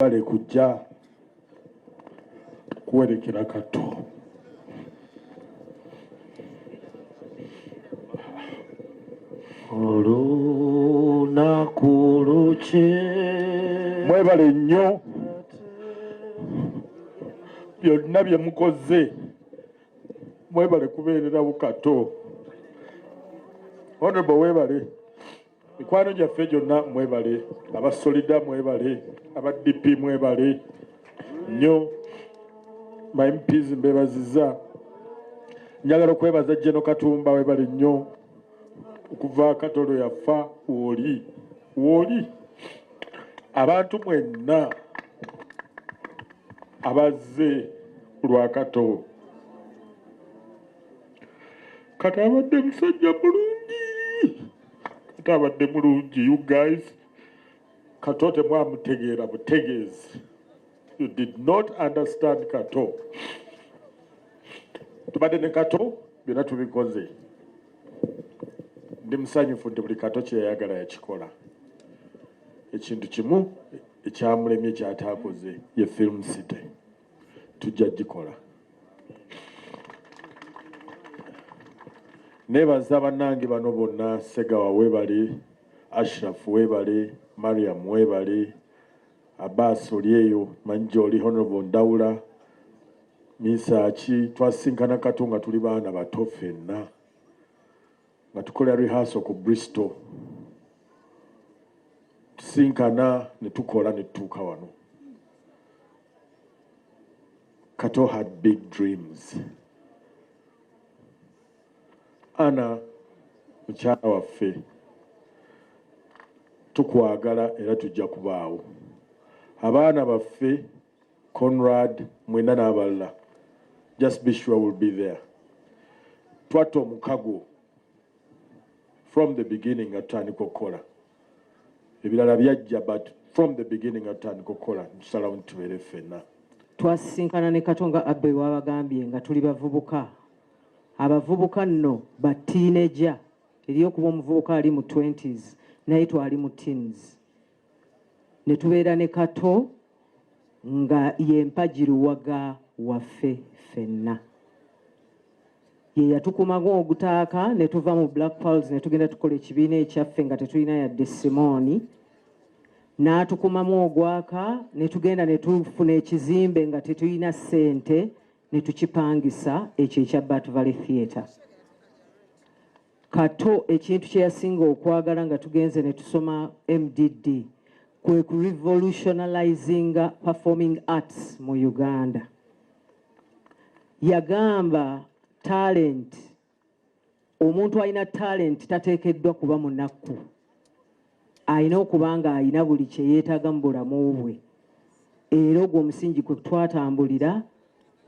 mwebale kujja kuwerekera katto olunaku luki mwebale nnyo byonna bye mukoze mwebale kubeererawo kato honorable webale mikwano gyaffe gyonna mwebale aba solida mwebale aba dp mwebale nnyo my mps mbebaziza njagala okwebaza jeno katumba webale nnyo okuva katolo yafa woli woli abantu mwenna abazze lwa kato kati abadde musajja bulungi ate abadde mulungi you guys kato temwamutegeera butegeezi you did not understand kato tubadde ne kato byonna tubikoze ndi musanyufu nti buli kato kyeyayagala yakikola ekintu kimu ekyamulemye kyataakoze ye film city tujja gikola nebaza bannange bano bonna segawa webali ashraf webali mariam webali abbas olyeyo manyi gyoli honorable ndawula minsaki twasinkana kato nga tuli baana bato fenna nga tukola rehearsal ku Bristol tusinkana ne tukola ne tutuuka wano Kato had big dreams Ana mukyala waffe tukwagala era tujja kubaawo abaana baffe Conrad mwena n'abalala just be sure we'll be there twatta omukago from the beginning nga tutandika okukola ebirala byajja but from the beginning nga tutandika okukola ntusalawo nti tubeere ffenna twasisinkana ne katonga abbe wabagambye nga tuli bavubuka abavubuka nno ba tiineja eri okuba omuvubuka ali mu 20s naye twali mu teens ne tubeera ne kato nga yempagiruwaga waffe ffenna ye yatukumaga ogutaaka ne tuva mu black pals ne tugenda tukola ekibiina ekyaffe nga tetulina yadde simooni n'atukumamu ogwaka ne tugenda ne tufuna ekizimbe nga tetulina ssente ne tukipangisa ekyo ekya bat valley theatre Kato ekintu kye yasinga okwagala nga tugenze ne tusoma MDD kwe ku revolutionalizinga performing arts mu Uganda. Yagamba talent, omuntu alina talent tateekeddwa kuba munakku, alina okuba nga alina buli kye yeetaaga mu bulamu bwe, era ogwo omusingi kwe twatambulira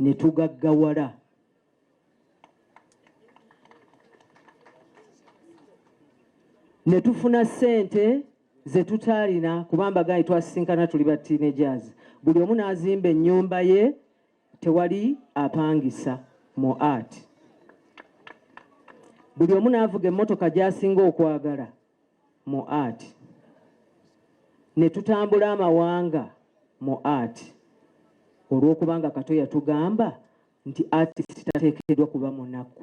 ne tugaggawala. ne tufuna ssente ze tutaalina kuba mbagaanyi twasisinkana tuli ba teenagers buli omu n'azimba ennyumba ye tewali apangisa mu art buli omu n'avuga emmotoka gy'asinga okwagala mu art ne tutambula amawanga mu art olw'okubanga kato yatugamba nti artist tateekeddwa kuba munaku